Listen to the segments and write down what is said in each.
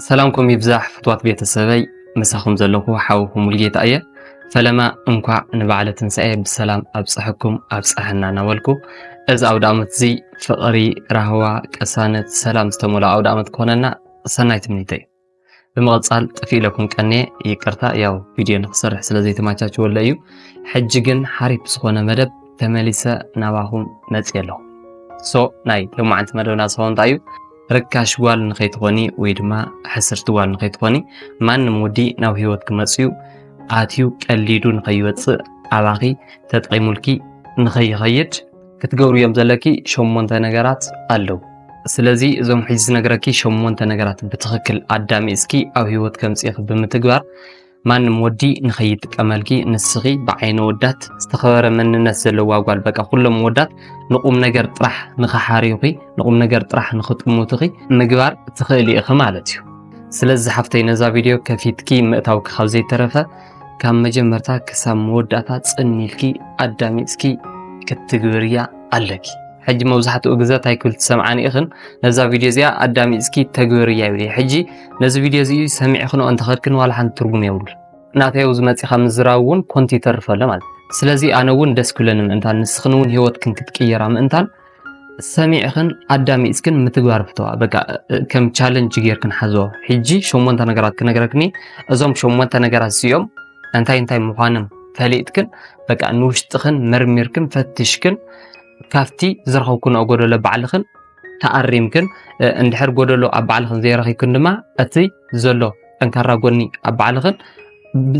ሰላምኩም ይብዛሕ ፍትዋት ቤተሰበይ ምሳኹም ዘለኹ ሓውኹም ሙልጌታ እየ ፈለማ እንኳዕ ንበዓለ ትንሳኤ ብሰላም ኣብፀሐኩም ኣብፀሐና እናበልኩ እዚ ኣውደ ዓመት እዚ ፍቕሪ ራህዋ ቅሳነት ሰላም ዝተመልኦ ኣውደ ዓመት ክኾነና ሰናይ ትምኒተይ ብምቕፃል ጥፊእ ኢለኩም ቀንየ ይቅርታ ያው ቪድዮ ንክሰርሕ ስለ ዘይተማቻችወለ እዩ ሕጂ ግን ሓሪፍ ዝኾነ መደብ ተመሊሰ ናባኹም መፅየ ኣለኹ ሶ ናይ ሎማዓንቲ መደብና ዝኸውን እንታይ እዩ ርካሽ ጓል ንኸይትኾኒ ወይ ድማ ሕስርቲ ጓል ንኸይትኾኒ ማንም ወዲ ናብ ህይወት ክመፅዩ ኣትዩ ቀሊዱ ንኸይወፅእ ኣባኺ ተጠቂሙልኪ ንኸይኸይድ ክትገብሩ እዮም ዘለኪ ሸሞንተ ነገራት ኣለዉ ስለዚ እዞም ሕጂ ዝነግረኪ ሸሞንተ ነገራት ብትኽክል ኣዳሚፅኪ ኣብ ህይወት ከምፅኢኺ ብምትግባር ማንም ወዲ ንኸይጥቀመልኪ ንስኺ ብዓይኒ ወዳት ዝተኸበረ መንነት ዘለዋ ጓል በቃ ኩሎም ወዳት ንቁም ነገር ጥራሕ ንኸሓርዩኺ ንቁም ነገር ጥራሕ ንኽጥሙትኺ ምግባር ትኽእሊ ኢኺ ማለት እዩ ስለዚ ሓፍተይ ነዛ ቪድዮ ከፊትኪ ምእታውኪ ካብ ዘይተረፈ ካብ መጀመርታ ክሳብ መወዳእታ ጽኒልኪ ኣዳሚፅኪ ክትግብርያ ኣለኪ ሕጂ መብዛሕትኡ ግዘ እንታይ ክብል ትሰምዓኒ ኢኽን ነዛ ቪድዮ እዚኣ ኣዳሚፅኪ ተግብርያ ይብል ሕጂ ነዚ ቪድዮ እዚ ሰሚዕ ክንኦ እንተኸድክን ዋላ ሓንቲ ትርጉም የብሉ ናተይ ኣብዚ መጺኻ ምዝራብ እውን ኮንቲ ይተርፍ ኣሎ ማለት ስለዚ ኣነ እውን ደስ ክብለኒ ምእንታን ንስኽን እውን ህይወትክን ክትቅየራ ምእንታን ሰሚዕኽን ኣዳሚፅክን ምትግባር ፍተዋ በቃ ከም ቻለንጅ ጌርክን ሓዞ ሕጂ ሸሞንተ ነገራት ክነግረክኒ እዞም ሸሞንተ ነገራት እዚኦም እንታይ እንታይ ምዃንም ፈሊጥክን በቃ ንውሽጥኽን መርሚርክን ፈትሽክን ካብቲ ዝረኸብክንኦ ጎደሎ ባዕልኽን ተኣሪምክን እንድሕር ጎደሎ ኣብ ባዕልኽን ዘይረኺብክን ድማ እቲ ዘሎ ጠንካራ ጎኒ ኣብ ባዕልኽን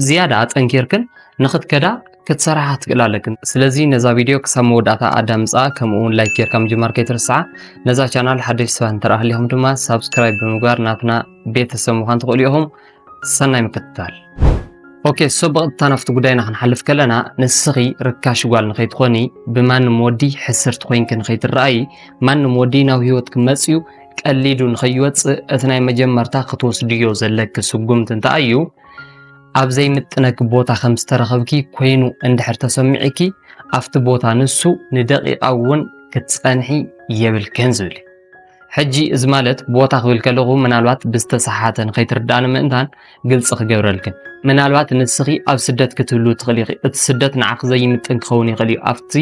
ዝያዳ ኣጠንኪርክን ንኽትከዳ ክትሰርሓ ክትክእል ኣለክን ስለዚ ነዛ ቪድዮ ክሳብ መወዳእታ ኣዳምፃ ከምኡ እውን ላይክ ጌርካ ምጅማር ከይትርስዓ ነዛ ቻናል ሓደሽ ሰባት እንተረኣ ሃሊኹም ድማ ሳብስክራይብ ብምግባር ናትና ቤተሰብ ምዃን ትኽእሉ ኢኹም ሰናይ ምክትታል ኦኬ ሶ ብቐጥታ ናብቲ ጉዳይና ክንሓልፍ ከለና ንስኺ ርካሽ ጓል ንኸይትኾኒ ብማንም ወዲ ሕስርቲ ኮይንኪ ንኸይትረኣዪ ማንም ወዲ ናብ ህይወት ክመፅዩ ቀሊዱ ንኸይወፅእ እቲ ናይ መጀመርታ ክትወስድዮ ዘለኪ ስጉምቲ እንታይ እዩ ኣብ ዘይምጥነኪ ቦታ ከም ዝተረኸብኪ ኮይኑ እንድሕር ተሰሚዒኪ ኣብቲ ቦታ ንሱ ንደቂቓ እውን ክትፀንሒ የብልክን ዝብል ሕጂ እዚ ማለት ቦታ ክብል ከለኹ ምናልባት ብዝተሰሓሓተ ንኸይትርድኣኒ ምእንታን ግልፂ ክገብረልክን ምናልባት ንስኺ ኣብ ስደት ክትህሉ ትኽእሊ ኢኺ እቲ ስደት ንዓኺ ዘይምጥን ክኸውን ይኽእል እዩ ኣብቲ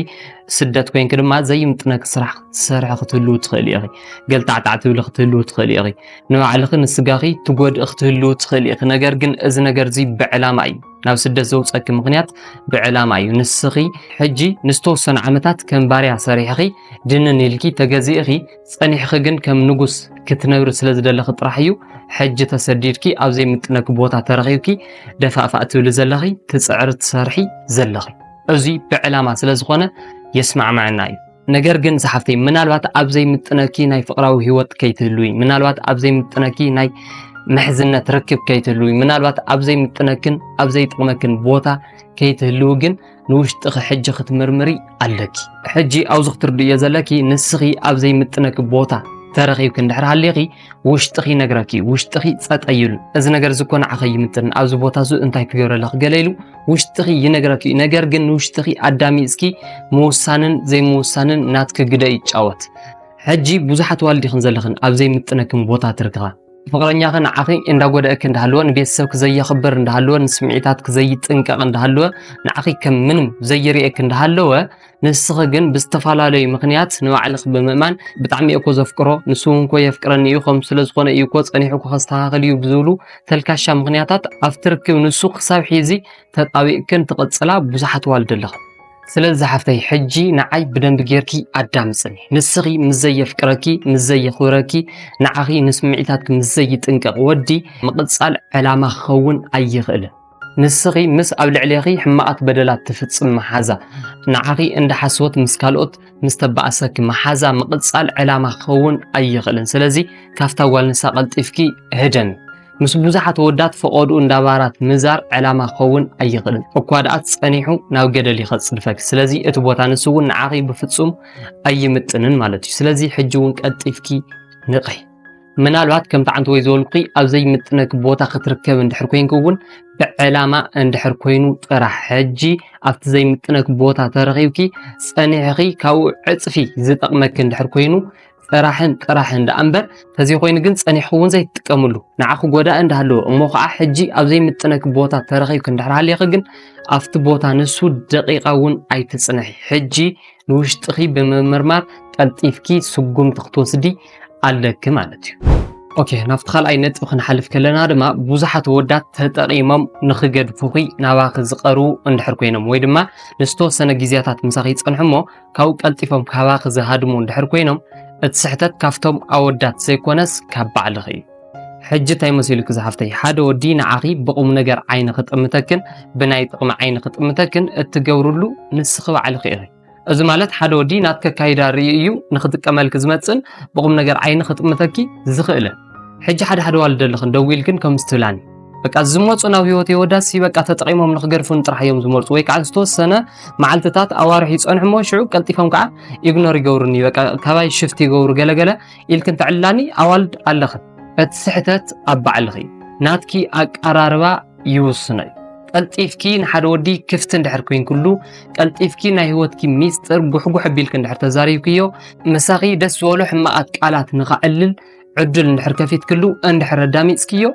ስደት ኮንኪ ድማ ዘይምጥነኪ ስራሕ ክትሰርሒ ክትህሉ ትኽእሊ ኢኺ ገልታዕታዕ ትብሊ ክትህሉ ትኽእሊ ኢኺ ንባዕልኺ ንስጋኺ ትጎድእ ክትህሉ ትኽእሊ ኢኺ ነገር ግን እዚ ነገር እዚ ብዕላማ እዩ ናብ ስደት ዘውፀኪ ምክንያት ብዕላማ እዩ ንስኺ ሕጂ ንዝተወሰኑ ዓመታት ከም ባርያ ሰሪሕኺ ድንን ኢልኪ ተገዚእኺ ጸኒሕኺ ግን ከም ንጉስ ክትነብሪ ስለ ዝደለኺ ጥራሕ እዩ ሕጂ ተሰዲድኪ ኣብ ዘይምጥነኪ ቦታ ተረኺብኪ ደፋእፋእ ትብሊ ዘለኺ ትጽዕሪ ትሰርሒ ዘለኺ እዚ ብዕላማ ስለ ዝኾነ የስማዕማዕና እዩ ነገር ግን ዝሓፍተይ ምናልባት ኣብ ዘይምጥነኪ ናይ ፍቕራዊ ህይወት ከይትህልዊ ምናልባት ኣብ ዘይምጥነኪ ናይ ምሕዝነት ርክብ ከይትህልዊ ምናልባት ኣብ ዘይምጥነክን ኣብ ዘይጥቕመክን ቦታ ከይትህልዊ ግን ንውሽጥኺ ሕጂ ክትምርምሪ ኣለኪ። ሕጂ ኣብዚ ክትርድእዮ ዘለኪ ንስኺ ኣብ ዘይምጥነኪ ቦታ ተረኺብኪ እንድሕር ሃሊኺ ውሽጥኺ ይነግረኪ እዩ ውሽጥኺ ፀጠ ይብል እዚ ነገር እዚ እኮ ንዓኸ ይምጥን ኣብዚ ቦታ እዚ እንታይ ክገብረ ኣለኺ ገለ ኢሉ ውሽጥኺ ይነግረኪ እዩ ነገር ግን ንውሽጥኺ ኣዳሚፅኪ ምውሳንን ዘይምውሳንን ናትኪ ግደ ይጫወት ሕጂ ብዙሓት ዋልዲኽን ዘለኽን ኣብ ዘይምጥነክን ቦታ ትርክኻ ፍቕረኛኺ ንዓኺ እንዳጎደእኪ እንዳሃለወ ንቤተሰብኪ ዘየኽብር እንዳሃለወ ንስምዒታትኪ ዘይጥንቀቕ እንዳሃለወ ንዓኺ ከም ምንም ዘይርእየኪ እንዳሃለወ ንስኺ ግን ብዝተፈላለዩ ምኽንያት ንባዕልኺ ብምእማን ብጣዕሚ እኮ ዘፍቅሮ ንሱ እውን ኮ የፍቅረኒ እዩ ከም ስለ ዝኾነ እዩ እኮ ጸኒሑ እኮ ከስተኻኽል እዩ ብዝብሉ ተልካሻ ምኽንያታት ኣብቲ ርክብ ንሱ ክሳብ ሒዚ ተጣቢቕክን ትቕጽላ ብዙሓት ዋልድ ኣለኽን ስለዚ ዝሓፍተይ ሕጂ ንዓይ ብደንቢ ጌርኪ ኣዳምጽኒ። ንስኺ ምስ ዘየፍቅረኪ፣ ምስ ዘየኽብረኪ፣ ንዓኺ ንስምዒታትኪ ምስ ዘይጥንቀቕ ወዲ ምቕጻል ዕላማ ክኸውን ኣይኽእልን። ንስኺ ምስ ኣብ ልዕሌኺ ሕማቓት በደላት ትፍጽም መሓዛ፣ ንዓኺ እንዳ ሓስወት ምስ ካልኦት ምስ ተባእሰኪ መሓዛ ምቕጻል ዕላማ ክኸውን ኣይኽእልን። ስለዚ ካብታ ጓል ንሳ ቀልጢፍኪ ህደሚ። ምስ ብዙሓት ወዳት ፈቐድኡ እንዳባራት ምዛር ዕላማ ክኸውን ኣይኽእልን እኳ ደኣ ጸኒሑ ናብ ገደል ይኸጽድፈክ ስለዚ እቲ ቦታ ንሱ እውን ንዓኺ ብፍጹም ኣይምጥንን ማለት እዩ ስለዚ ሕጂ እውን ቀልጢፍኪ ንቕሒ ምናልባት ከምቲ ዓንቲ ወይ ዝበልኩ ኣብ ዘይምጥነክ ቦታ ክትርከብ እንድሕር ኮንክ እውን ብዕላማ እንድሕር ኮይኑ ጥራሕ ሕጂ ኣብቲ ዘይምጥነክ ቦታ ተረኺብኪ ጸኒሕኺ ካብኡ ዕጽፊ ዝጠቕመክ እንድሕር ኮይኑ ጥራሕን ጥራሕን ደኣ እምበር ተዘይኮይኑ ግን ጸኒሕኹም እውን ዘይትጥቀምሉ ንዓኹ ጎዳኢ እንዳሃለወ እሞ ከዓ ሕጂ ኣብ ዘይምጥነኪ ቦታ ተረኺብኪ እንድሕር ሃሊኺ ግን ኣብቲ ቦታ ንሱ ደቂቃ እውን ኣይትጽንሒ ሕጂ ንውሽጥኺ ብምምርማር ቀልጢፍኪ ስጉምቲ ክትወስዲ ኣለኪ ማለት እዩ ኦኬ ናብቲ ካልኣይ ነጥቢ ክንሓልፍ ከለና ድማ ብዙሓት ወዳት ተጠቒሞም ንኽገድፉኺ ናባኺ ዝቐርቡ እንድሕር ኮይኖም ወይ ድማ ንዝተወሰነ ግዜያታት ምሳኺ ይጸንሑ እሞ ካብኡ ቀልጢፎም ካባኺ ዝሃድሙ እንድሕር ኮይኖም እቲ ስሕተት ካብቶም ኣወዳት ዘይኮነስ ካብ ባዕልኺ እዩ። ሕጂ እንታይ መሲሉኪ ዝሓፍተይ ሓደ ወዲ ንዓኺ ብቑም ነገር ዓይኒ ክጥምተክን ብናይ ጥቕሚ ዓይኒ ክጥምተክን እትገብርሉ ንስኺ ባዕልኺ ኢኺ። እዚ ማለት ሓደ ወዲ ናትኪ ኣካይዳ ርእዩ እዩ ንክጥቀመልኪ ዝመጽእን ብቑም ነገር ዓይኒ ክጥምተኪ ዝኽእልን። ሕጂ ሓደ ሓደ ዋልደልኽን ደዊልክን ከምዚ ትብላኒ በቃ ዝመፁ ናብ ህይወት የወዳሲ በቃ ተጠቂሞም ንክገድፉን ጥራሕ እዮም ዝመርፁ ወይ ከዓ ዝተወሰነ መዓልትታት ኣዋርሕ ይፀንሑ እሞ ሽዑ ቀልጢፎም ከዓ ኢግኖር ይገብሩኒ በቃ ካባይ ሽፍት ይገብሩ ገለገለ ኢልክን ተዕላኒ ኣዋልድ ኣለኺ እቲ ስሕተት ኣብ ባዕልኺ ናትኪ ኣቀራርባ ይውስኖ እዩ ቀልጢፍኪ ንሓደ ወዲ ክፍቲ እንድሕር ኮይንክሉ ቀልጢፍኪ ናይ ህይወትኪ ሚስጥር ጉሕጉሕ ኣቢልኪ እንድሕር ተዛሪብክዮ ምሳኺ ደስ ዝበሎ ሕማቓት ቃላት ንኸዕልል ዕድል እንድሕር ከፊትክሉ እንድሕር ኣዳሚፅክዮ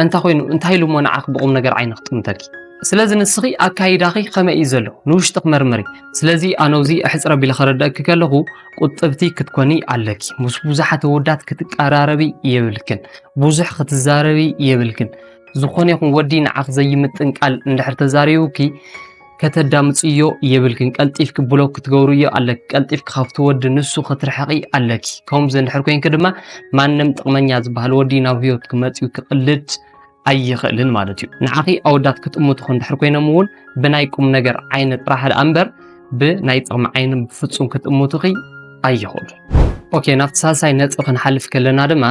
እንታ ኮይኑ እንታይ ኢሉ እሞ ንዓኺ ብቑም ነገር ዓይኒ ክጥምተኪ ስለዚ ንስኺ ኣካይዳኺ ከመይ እዩ ዘሎ ንውሽጢ ክመርምሪ ስለዚ ኣነውዚ ኣሕፅረ ቢለ ከረድአኪ ከለኹ ቁጥብቲ ክትኮኒ ኣለኪ ምስ ብዙሓት ወዳት ክትቀራረቢ የብልክን ብዙሕ ክትዛረቢ የብልክን ዝኾነ ይኹን ወዲ ንዓኽ ዘይምጥን ቃል እንድሕር ተዛሪቡኪ ከተዳምፅዮ የብልክን ቀልጢፍኪ ብሎክ ክትገብርዮ ኣለኪ ቀልጢፍኪ ካብቲ ወዲ ንሱ ክትርሕቂ ኣለኪ ከምዚ እንድሕር ኮይንኪ ድማ ማንም ጥቕመኛ ዝበሃል ወዲ ናብ ህይወትኪ መፅዩ ክቕልድ ኣይኽእልን ማለት እዩ ንዓኺ ኣወዳት ክጥምቱኹ እንድሕር ኮይኖም እውን ብናይ ቁም ነገር ዓይኒ ጥራሕ ደኣ እምበር ብናይ ጥቕሚ ዓይኒ ብፍፁም ክጥምቱኺ ኣይኽእሉ ኦኬ ናብቲ ሳልሳይ ነጥቢ ክንሓልፍ ከለና ድማ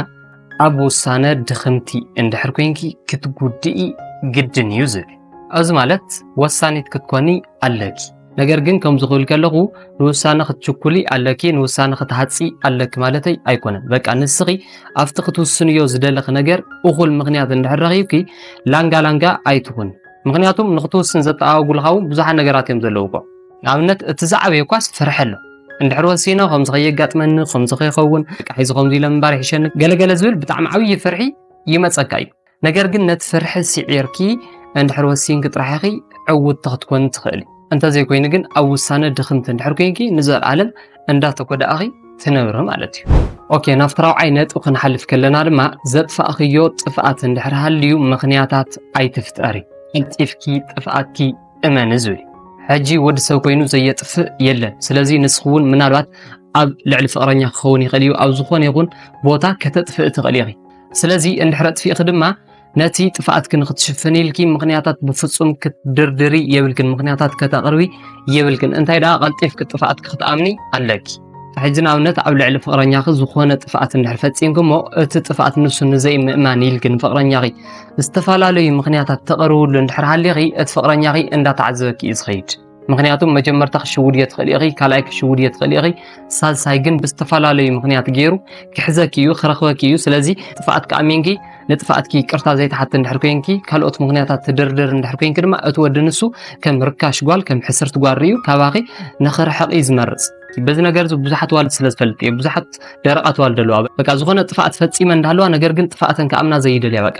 ኣብ ውሳነ ድኽምቲ እንድሕር ኮንኪ ክትጉድኢ ግድን እዩ ዝብል ኣብዚ ማለት ወሳኒት ክትኮኒ ኣለኪ ነገር ግን ከምዚ ክብል ከለኹ ንውሳነ ክትችኩሊ ኣለኪ ንውሳነ ክትሃፂ ኣለኪ ማለተይ ኣይኮነን በቃ ንስኺ ኣብቲ ክትውስንዮ ዝደለኺ ነገር እኹል ምክንያት እንድሕር ረኺብኪ ላንጋ ላንጋ ኣይትኹን ምክንያቱም ንክትውስን ዘተኣዋጉልካ እውን ብዙሓት ነገራት እዮም ዘለውዎ ንኣብነት እቲ ዝዓበየ እኳስ ፍርሒ ኣሎ እንድሕር ወሲነ ከምዚ ከየጋጥመኒ ከምዚ ከይኸውን ቃሒዚ ከምዚ ኢለ ምንባር ይሕሸኒ ገለገለ ዝብል ብጣዕሚ ዓብዪ ፍርሒ ይመፀካ እዩ ነገር ግን ነቲ ፍርሒ ስዒርኪ እንድሕር ወሲንኪ ጥራሕ ኢኺ ዕውትቲ ክትኮኒ ትኽእሊ እንተዘይኮይኑ ግን ኣብ ውሳነ ድኽምቲ እንድሕር ኮንኪ ንዘለኣለም እንዳተጎዳእኺ ትነብሪ ማለት እዩ ኦኬ ናብቲ ራብዓይ ነጥቢ ክንሓልፍ ከለና ድማ ዘጥፋእኽዮ ጥፍኣት እንድሕር ሃልዩ ምኽንያታት ኣይትፍጠሪ ቀልጢፍኪ ጥፍኣትኪ እመኒ ዝብል ሕጂ ወዲ ሰብ ኮይኑ ዘየጥፍእ የለን። ስለዚ ንስኺ እውን ምናልባት ኣብ ልዕሊ ፍቕረኛ ክኸውን ይኽእል እዩ ኣብ ዝኾነ ይኹን ቦታ ከተጥፍእ ትኽእል ኢኺ። ስለዚ እንድሕር ኣጥፊእኺ ድማ ነቲ ጥፍኣትኪ ንክትሽፍን ኢልኪ ምክንያታት ብፍጹም ክትድርድሪ የብልክን፣ ምክንያታት ከተቕርቢ የብልክን። እንታይ ደኣ ቀልጢፍኪ ጥፍኣትኪ ክትኣምኒ ኣለኪ። ሕጂ ንኣብነት ኣብ ልዕሊ ፍቕረኛኺ ዝኾነ ጥፍኣት እንድሕር ፈጺምክሞ እቲ ጥፍኣት ንሱ ንዘይምእማን ኢልኪ ንፍቕረኛኺ ዝተፈላለዩ ምኽንያታት ተቕርብሉ እንድሕር ሃሊኺ እቲ ፍቕረኛኺ እንዳተዓዘበኪ እዩ ዝኸይድ። ምክንያቱ መጀመርታ ክሽውድዮ ትኽእል ኢኺ፣ ካልኣይ ክሽውድዮ ትኽእል ኢኺ፣ ሳልሳይ ግን ብዝተፈላለዩ ምክንያት ገይሩ ክሕዘኪ እዩ ክረኽበኪ እዩ። ስለዚ ጥፍኣትኪ ኣሚንኪ ንጥፍኣትኪ ይቅርታ ዘይትሓቲ እንድሕር ኮንኪ ካልኦት ምክንያታት ትድርድር እንድሕር ኮንኪ ድማ እቲ ወዲ ንሱ ከም ርካሽ ጓል ከም ሕስርቲ ጓል ርዩ ካባኺ ንኽርሕቕ እዩ ዝመርፅ በዚ ነገር እዚ ብዙሓት ዋልድ ስለ ዝፈልጥ እየ ብዙሓት ደረቓት ዋልድ ኣለዋ በቃ ዝኾነ ጥፍኣት ፈፂመ እንዳለዋ ነገር ግን ጥፍኣተን ከኣምና ዘይደልያ በቃ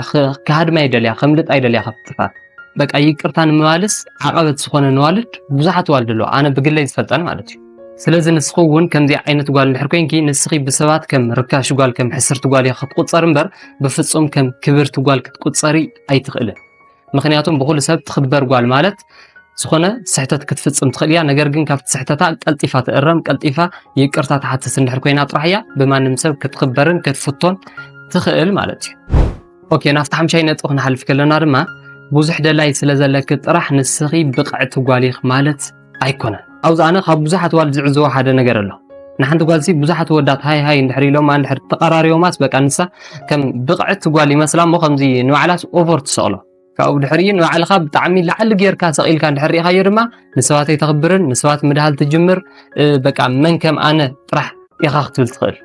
ክሃድማ ይደልያ ከምልጥ ኣይደልያ ካብ ጥፍኣት በቃ ይቅርታ ንምባልስ ዓቐበት ዝኾነ ንዋልድ ብዙሓት ዋልድ ኣለዋ ኣነ ብግለይ ዝፈልጠን ማለት እዩ ስለዚ ንስኺ እውን ከምዚኣ ዓይነት ጓል እንድሕር ኮንኪ ንስኺ ብሰባት ከም ርካሽ ጓል ከም ሕስርቲ ጓል ኢኻ ክትቁፀር እምበር ብፍፁም ከም ክብርቲ ጓል ክትቁፀሪ ኣይትኽእልን ምክንያቱም ብኩሉ ሰብ ትኽበር ጓል ማለት ዝኾነ ስሕተት ክትፍፅም ትኽእል እያ ነገር ግን ካብቲ ስሕተታ ቀልጢፋ ትእረም ቀልጢፋ ይቅርታ ትሓትት እንድሕር ኮይና ጥራሕ እያ ብማንም ሰብ ክትኽበርን ክትፍቶን ትኽእል ማለት እዩ ኦኬ ናብቲ ሓምሻይ ነጥቢ ክንሓልፍ ከለና ድማ ብዙሕ ደላይ ስለ ዘለኪ ጥራሕ ንስኺ ብቕዕቲ ጓል ኢኽ ማለት ኣይኮነን ኣብዚ ኣነ ካብ ብዙሓት ዋል ዝዕዘቦ ሓደ ነገር ኣሎ ንሓንቲ ጓልሲ ብዙሓት ወዳት ሃይ ሃይ እንድሕር ኢሎማ እንድሕር ተቐራሪቦማስ በቃ ንሳ ከም ብቕዕቲ ጓል ይመስላ እሞ ከምዚ ንባዕላስ ኦቨር ትሰቕሎ ካብኡ ድሕሪ ንባዕልኻ ብጣዕሚ ላዕሊ ጌርካ ሰቒልካ እንድሕር ርኢኻዮ ድማ ንሰባት ኣይተኽብርን ንሰባት ምድሃል ትጅምር በቃ መን ከም ኣነ ጥራሕ ኢኻ ክትብል ትኽእል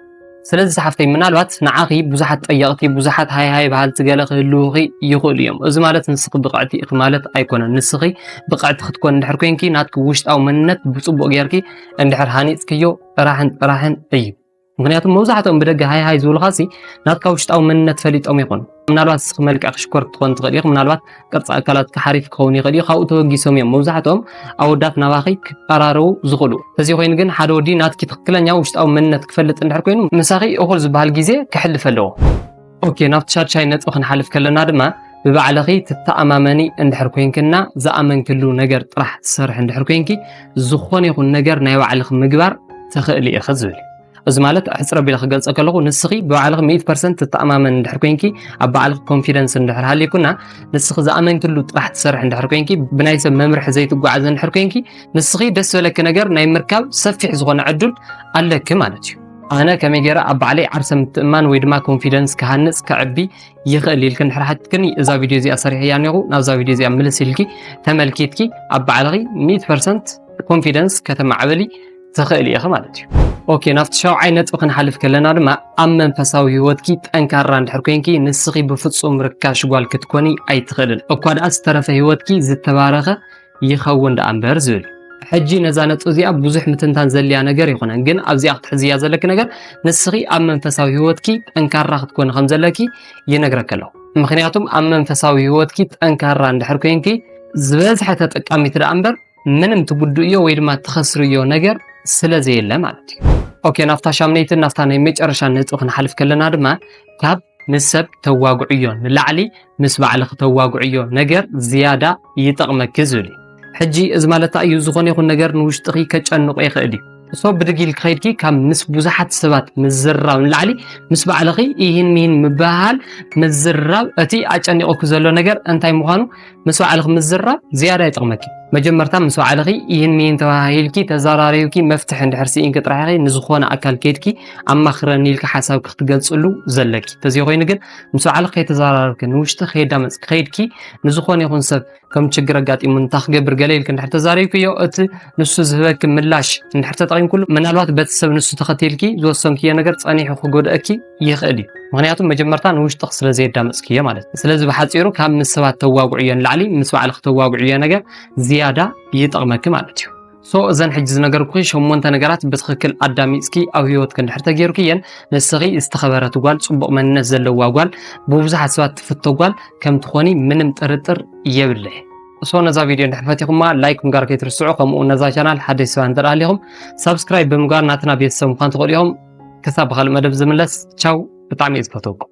ስለዚ ሰሓፍተይ ምናልባት ንዓኺ ብዙሓት ጠየቕቲ ብዙሓት ሃይ ሃይ በሃልቲ ገለ ክህልዉኺ ይኽእሉ እዮም እዚ ማለት ንስኺ ብቕዕቲ ኢኺ ማለት ኣይኮነን ንስኺ ብቕዕቲ ክትኮን እንድሕር ኮንኪ ናትኪ ውሽጣዊ መንነት ብፅቡቕ ጌርኪ እንድሕር ሃኒፅክዮ ጥራሕን ጥራሕን እዩ ምክንያቱ መብዛሕትኦም ብደገ ሃይ ሃይ ዝብሉኻ ሲ ናትካ ውሽጣዊ መንነት ፈሊጦም ይኾኑ ምናልባት እስኺ መልክዕ ክሽኮር ክትኾን ትኽእል ኢኺ ምናልባት ቅርፂ ኣካላት ክሓሪፍ ክኸውን ይኽእል እዩ ካብኡ ተበጊሶም እዮም መብዛሕትኦም ኣወዳት ናባኺ ክቀራረቡ ዝኽእሉ እዚ ኮይኑ ግን ሓደ ወዲ ናትኪ ትኽክለኛ ውሽጣዊ መንነት ክፈልጥ እንድሕር ኮይኑ ምሳኺ እኹል ዝበሃል ግዜ ክሕልፍ ኣለዎ ኦኬ ናብቲ ሻድሻይ ነጥቢ ክንሓልፍ ከለና ድማ ብባዕልኺ ትተኣማመኒ እንድሕር ኮይንክና ዝኣመንክሉ ነገር ጥራሕ ትሰርሒ እንድሕር ኮይንኪ ዝኾነ ይኹን ነገር ናይ ባዕልኺ ምግባር ትኽእሊ ኢኺ ዝብል እዚ ማለት ኣሕፅር ኣቢለ ክገልፀ ከለኹ ንስኺ ብባዕልኺ ሚእቲ ፐርሰንት ትተኣማመን እንድሕር ኮንኪ ኣብ ባዕልኺ ኮንፊደንስ እንድሕር ሃልይኩና ንስኺ ዝኣመንክሉ ጥራሕ ትሰርሒ እንድሕር ኮንኪ ብናይ ሰብ መምርሒ ዘይትጓዓዘ እንድሕር ኮንኪ ንስኺ ደስ ዝበለኪ ነገር ናይ ምርካብ ሰፊሕ ዝኾነ ዕዱል ኣለኪ ማለት እዩ ኣነ ከመይ ገይረ ኣብ ባዕለይ ዓርሰ ምትእማን ወይ ድማ ኮንፊደንስ ክሃንፅ ከዕቢ ይኽእል ኢልኪ እንድሕር ሓትክኒ እዛ ቪድዮ እዚኣ ሰሪሐያ እኒኹ ናብዛ ቪድዮ እዚኣ ምልስ ኢልኪ ተመልኪትኪ ኣብ ባዕልኺ ሚእቲ ፐርሰንት ኮንፊደንስ ከተማዕበሊ ትኽእሊ ኢኺ ማለት እዩ። ኦኬ ናብቲ ሻውዓይ ነጥቢ ክንሓልፍ ከለና ድማ ኣብ መንፈሳዊ ህይወትኪ ጠንካራ እንድሕር ኮንኪ ንስኺ ብፍጹም ርካሽ ጓል ክትኮኒ ኣይትኽእልን እኳ ደኣ ዝተረፈ ህይወትኪ ዝተባረኸ ይኸውን ደኣ እምበር ዝብል ሕጂ ነዛ ነጥቢ እዚኣ ብዙሕ ምትንታን ዘልያ ነገር ይኹነን ግን ኣብዚኣ ክትሕዝያ ዘለኪ ነገር ንስኺ ኣብ መንፈሳዊ ህይወትኪ ጠንካራ ክትኮኒ ከም ዘለኪ ይነግረኪ ኣለኹ ምክንያቱም ኣብ መንፈሳዊ ህይወትኪ ጠንካራ እንድሕር ኮንኪ ዝበዝሐ ተጠቃሚት ደኣ እምበር ምንም ትጉድእዮ ወይ ድማ ትኸስርዮ ነገር ስለ ዘየለ ማለት እዩ ኦኬ ናብታ ሻምነይትን ናብታ ናይ መጨረሻ ነጥቢ ክንሓልፍ ከለና ድማ ካብ ምስ ሰብ ተዋግዕዮ ንላዕሊ ምስ ባዕልኺ ተዋግዕዮ ነገር ዝያዳ ይጠቕመኪ ዝብል እዩ ሕጂ እዚ ማለት እዩ ዝኾነ ይኹን ነገር ንውሽጥኺ ከጨንቆ ይኽእል እዩ እሶ ብድግ ኢል ክኸይድኪ ካብ ምስ ብዙሓት ሰባት ምዝራብ ንላዕሊ ምስ ባዕልኺ ይህን ይህን ምብሃል ምዝራብ እቲ ኣጨኒቑኪ ዘሎ ነገር እንታይ ምዃኑ ምስ ባዕልኺ ምዝራብ ዝያዳ ይጠቕመኪ መጀመርታ ምስ ባዕልኺ ይህን ምይን ተባሂልኪ ተዘራሪብኪ መፍትሒ እንድሕር ስኢንኪ ጥራሕ ኢኺ ንዝኾነ ኣካል ከድኪ ኣማኽረኒ ኢልኪ ሓሳብኪ ክትገልጽሉ ዘለኪ ተዘይኮይኑ ግን ምስ ባዕልኺ ከይተዘራረብኪ ንውሽጢ ከየዳመጽኪ ከይድኪ ንዝኾነ ይኹን ሰብ ከም ችግር ኣጋጢሙ እንታ ክገብር ገለ ኢልኪ እንድሕር ተዛሪብክዮ እቲ ንሱ ዝህበኪ ምላሽ እንድሕር ተጠቒምኩሉ ምናልባት በቲ ሰብ ንሱ ተኸቲልኪ ዝወሰንክዮ ነገር ጸኒሑ ክጎድኣኪ ይኽእል እዩ ምክንያቱም መጀመርታ ንውሽጥኽ ስለ ዘየዳመፅክዮ ማለት እዩ ስለዚ ብሓፂሩ ካብ ምስ ሰባት ተዋግዕዮ ንላዕሊ ምስ ባዕልኽ ተዋግዕዮ ነገር ዝያዳ ይጠቕመኪ ማለት እዩ ሶ እዘን ሕጂ ዝነገርኩኺ ሸሞንተ ነገራት ብትኽክል ኣዳሚፅኪ ኣብ ህይወትኪ እንድሕር ተገይርክየን ንስኺ ዝተኸበረት ጓል ፅቡቕ መንነት ዘለዋ ጓል ብብዙሓት ሰባት ትፍቶ ጓል ከም ትኾኒ ምንም ጥርጥር የብለይ እሶ ነዛ ቪድዮ እንድሕር ፈቲኹማ ላይክ ምግባር ከይትርስዑ ከምኡ ነዛ ቻናል ሓደሽ ሰባት እንተ ሃሊኹም ሳብስክራይብ ብምግባር ናትና ቤተሰብ ምዃን ትኽእሉ ኢኹም ክሳብ ብካልእ መደብ ዝምለስ ቻው ብጣዕሚ እዩ ዝፈትወኩም